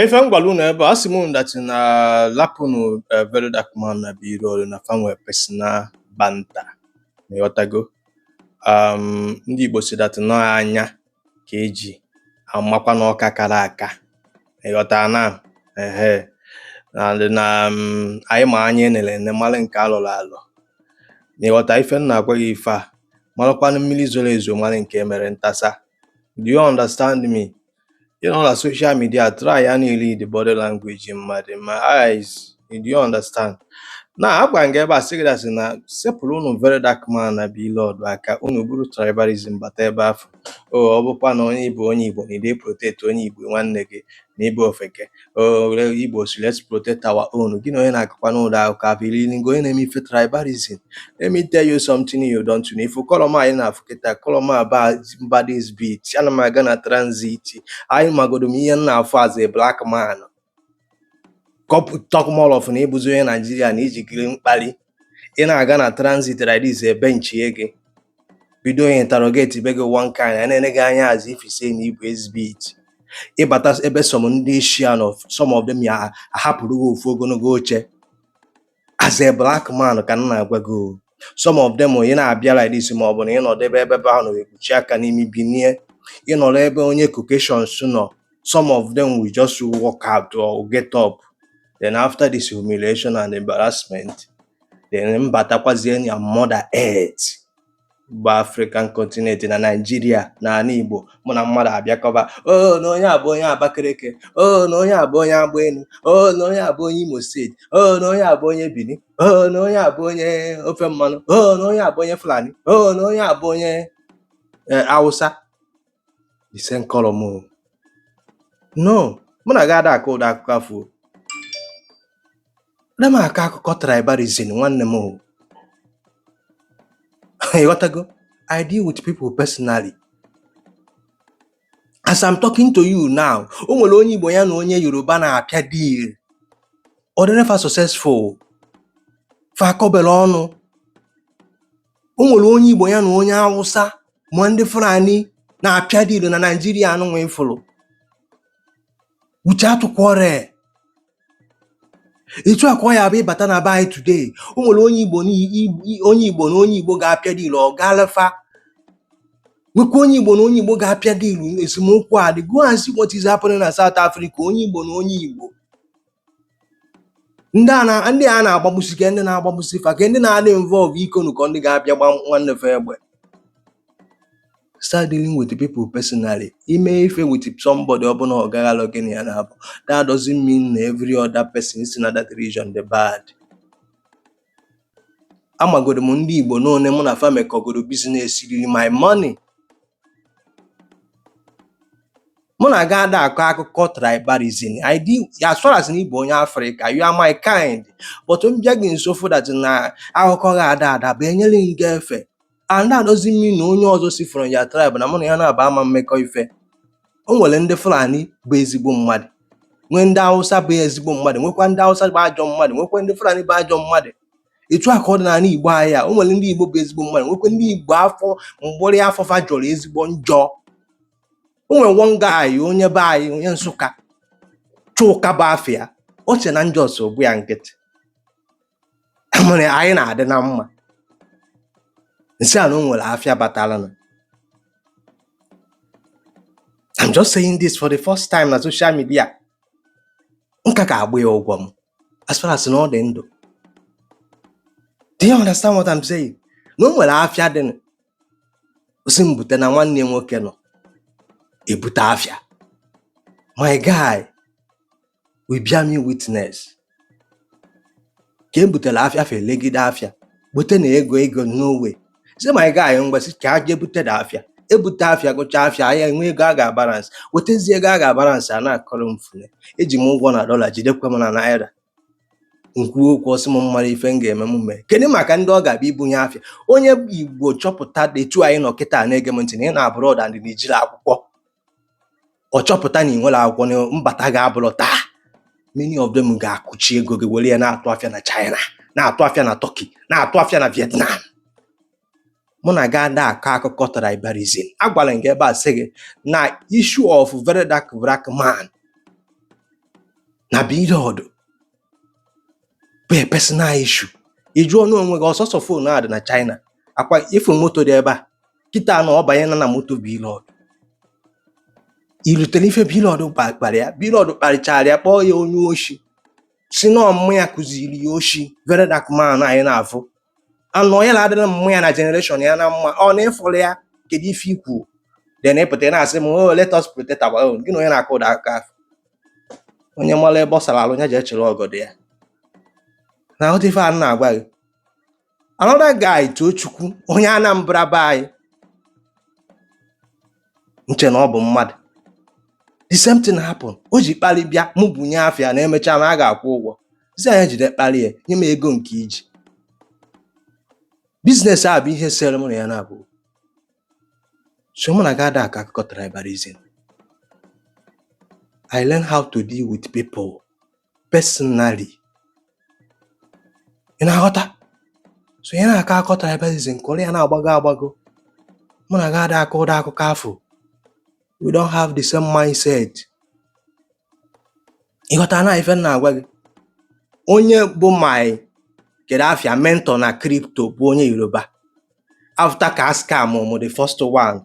Ife m gwara unu ebe a sị m unu that na lapụnụ eh, very dark man na Blord na fa nwe personal banter na ịghọtago um, ndị Igbo si that n'ọ anya ka eji amakwa n'ọka kara aka na ịghọta na ehe na ndị na um, anyị ma anya enere ene mara nke alọrọ alọ na ịghọta ife m na-agwa gị ife a marakwanụ mmiri zoro ezo mara nke emere ntasa do you understand me ị nọ na social media try and read the body language mmadụ ma eyes do you understand na agwa m gị ebe a sị gị that na sepụrụ unu very dark man na Blord aka unu buru tribalism bata ebe afụ o ọ bụkwa na onye bụ onye igbo na ide protect onye igbo nwanne gị na ị bụ ofeke oh, Igbos let's protect our own gị na onye na-akọkwanụ ụdị akụkọ afụ iri ngo onye na-eme ife tribalism let me tell you something you don't know ịfụ colour m a ị na-afụ kịta colour m a bụ bad exhibit ana m aga na transit anyị magodo m ihe m na-afụ as a black man talk more of na ịbụzi onye Naijiria na iji green kpali ị na-aga na transit like this ebenchie gị bido interrogate be gị one kind a na-ene gị anya as if say na ibu exhibit ịbata ebe some ndị Asian some of them ya ahapụrụ gị ofu ogologo oche as a black man ka m na-agwa gị o. some of them ị na-abịa like this ma ọ bụ na ịnọdụ ebe ebe ahụ na ekpuchi aka n'imi binie ịnọrọ ebe onye Caucasians nọ some of them will just walk out or get up then after this humiliation and embarrassment then m batakwazie na mother earth bụ African continent na Nigeria na ana Igbo mụ na mmadụ abịa kọba o oh, na onye a bụ onye Abakaliki o oh, na onye a bụ onye Agba Enu o oh, na onye a bụ onye Imo State o na onye a bụ onye Bini o na onye a bụ onye ofe mmanụ o na onye a bụ onye Fulani o na onye a bụ onye eh, Hausa the same colour m no mụ na gị ada akọ ụdị akụkọ afụ ada m akọ akụkọ tribalism nwanne m ịghọtago i deal with people personally as i'm talking to you now o nwere onye igbo ya na onye yoruba na-apịa deal ọ dịrị fa successful fa akọberọ ọnụ o nwere onye Igbo ya na onye Awụsa ma ndị Fulani na-apịa deal na Naịjirịa anụnwa ị fụrụ without quarrel etu a ka ọ ya-abụ ịbata na be anyị today o nwere onye Igbo na i- onye Igbo na onye Igbo ga-apịa deal ọ gaala fa nwekwa onye Igbo na onye Igbo ga-apịa deal esemokwu adị go and see what is happening na South Africa onye Igbo na onye Igbo ndị a na ndị a na-agbagbusi kee ndị na-agbagbusi fa kee ndị na-adị involve ikonu ka ndị ga-abịa gba nwanne fa egbe start dealing with the people personally i mee ife with somebody ọ bụ na ọ gaghị alụ gị na ya na-abụ that doesn't mean na every other person si na that region dị bad amagoro m ndị Igbo n'one mụ na fa mekọgoro business riri my money mụ na gị ada akọ akụkọ tribalism I do as far as na ị bụ onye Afrịka you are my kind but m bịa gị nso find out na akụkọ gị ada adaba enyere m gị efe and that doesn't mean na onye ọzọ si from your tribe na mụ na ya na-aba ama mekọ ife o nwere ndị Fulani bụ ezigbo mmadụ nwee ndị Hausa bụ ezigbo mmadụ nwekwa ndị Hausa bụ ajọ mmadụ nwekwa ndị Fulani bụ ajọ mmadụ etu a ka ọ dị n'ala Igbo anyị a o nwere ndị Igbo bụ ezigbo mmadụ nwekwa ndị Igbo afọ mgbụrị afọ fa jọrọ ezigbo njọ o nwere one guy onye be anyị onye Nsụka Chuka bụ afa ya o che na njọ so gba ya nkịtị mere anyị na-adị na mma m sị ya na o nwere afịa batara na I'm just saying this for the first time na social media m ka ga-agba ya ụgwọ m as far as na ọ dị ndụ do you understand what I'm saying na o nwere afịa dị na ọ sị m bute na nwanne ya nwoke nọ ebute afịa my guy will bear me witness ka e butere afịa fa elegide afịa bute na ego ego onwe sị my guy ngwa sị ka e jee bute the afịa ebute afịa gụcha afịa ya enwee ego a ga-abalansị wetazi ego a ga-abalansị a na-akọrọ m fune e ji m ụgwọ na dọla jidekwa m na naira m kwuo okwu ọ sị m mara ife m ga-eme m mee kedu maka ndị ọ ga-abịa ibunye afịa onye Igbo chọpụta etu anyị nọ kịta na-ege m ntị na ị nọ abroad and na i jirọ akwụkwọ ọ chọpụta na ị nwerọ akwụkwọ na mbata gị abụrọ taa many of them ga-akụchi ego gị were ya na-atụ afịa na China na-atụ afịa na Turkey na-atụ afịa na Vietnam mụ na gị ada akọ akụkọ tribalism agwala m gị ebe a sị gị na issue of very dark black man na Blord bụ a personal issue ị jụọna onwe gị ọ sọsọ fon na-adị na China ọ kwa ị fụ moto dị ebe a kịta na ọ banyena na moto Blord i rotere ife Blord kparị ya Blord kparịchara ya kpọọ ya onye oshi sị na ọ mum ya kụziri ya oshi very dark man anyị na-afụ anụ onye na-adịrị mum ya na generation ya na mma ọ na-efọrọ ya kedu ife i kwu then ị pụta na-asị m oh let us protect our own gị na onye na-akụ ụda aka onye mara ebe ọ sara alụ ya jee chịrị ọgọdọ ya na-aghọta ife a na-agwa gị another guy Tochukwu onye Anambra be anyị m che na ọ bụ mmadụ the same thing happen o ji kpali bịa mụ bunye afịa na emechaa na a ga-akwụ ụgwọ sị ya nya jide kpali ya nye m ego nke iji business a bụ ihe sere mụ na ya naabọ so mụ na gị ada akọ akụkọ tribalism I learn how to deal with people personally ị na-aghọta so onye na-akọ akụkọ tribalism kọrọ ya na-agbago agbago mụ na gị ada akọ ụdị akụkọ afụ we don't have the same mindset ịghọta na ife m na-agwa gị onye bụ my kedu afa ya mentor na crypto bụ onye Yoruba after ka a scam mụ the first one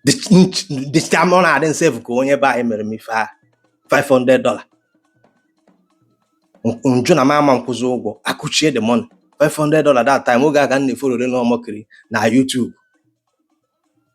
the ch- the scam ọ na-adị m sef ka onye be anyị mere m ife a 500 dollar m jụ na m ama nkwụzi ụgwọ akụchie the money 500 dollar that time oge a ka m na-efollow Reno Omokri na YouTube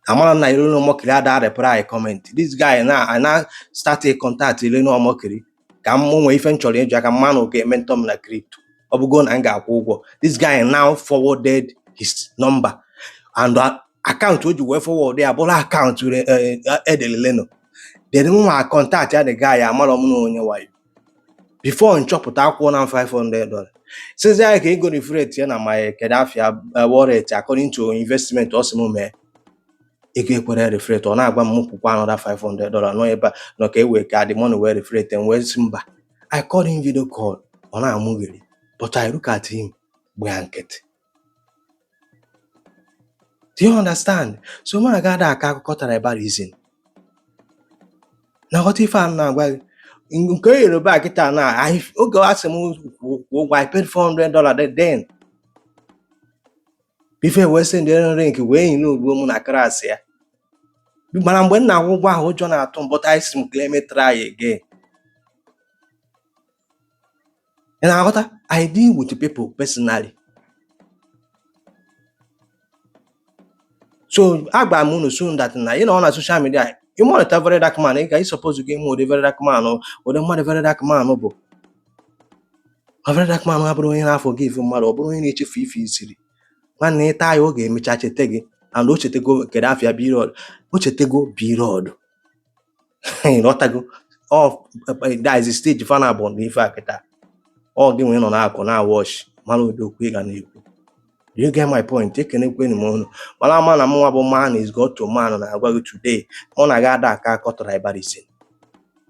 amarọ m na Reno Omokri ada reply comment this guy now I now start to contact Reno Omokri ka m nwee ife m chọrọ ịjụ ya ka m ma na ọ ga-ementor m na crypto ọ bụgo na m ga-akwụ ụgwọ this guy now forwarded his number and uh, account o ji wee forward ya bụrụ account re- eh, eh, edelu Reno then mụwa contact ya the guy amarọ m na onye wayo before m chọpụta akwụgo m ya 500 dollar sịzị ya ka ego reflect ya na my kedu afa ya eh, wallet according to investment ọ sị m mee ego ekwerọ reflect ọ na-agwa m kwụkwa another 500 dollar nọ ebe a nọ ka e wee ka the money wee reflect m wee sị mba I called him video call ọ na-amụgheri but I look at him gbaa nkịtị Do you understand? So mụ na gị ada akọ akụkọ tribalism. Ị na-aghọta ife a m na-agwa gị. Ng- Nke Yoruba kịtaa na anyị- oge a sị m kwụ kwụ ụgwọ I paid 400 dollar then before e wee sendere m link wee yi n'ogbo mụ na class ya. Mana mgbe m na-akwụ ụgwọ ahụ ụjọ na-atụ m but I sị m okay let me try again. ị na-aghọta i deal with people personally so agwara m unu so that na ị nọ na social media ị monitor very dark man ị ga ị supposego ịma ụdị very dark man ụdị mmadụ very dark man bụ ma very dark man abụrọ onye na-aforgive mmadụ ọ bụrọ onye na-echefu ife easily nwanne ị try ya ọ ga-emecha cheta gị and o chetego kedu afa ya Blord o chetego Blord ịghọtago that is the stage fa naabọ na ife a kịta ọ gị wee nọ n'akụkụ na-watch mara ụdị okwu ị ga na-ekwu Do you get my point? Ekenekwanụ m unu mara ama na mụnwa bụ man is God to man na-agwa gị today mụ na gị ada akọ akụkọ tribalism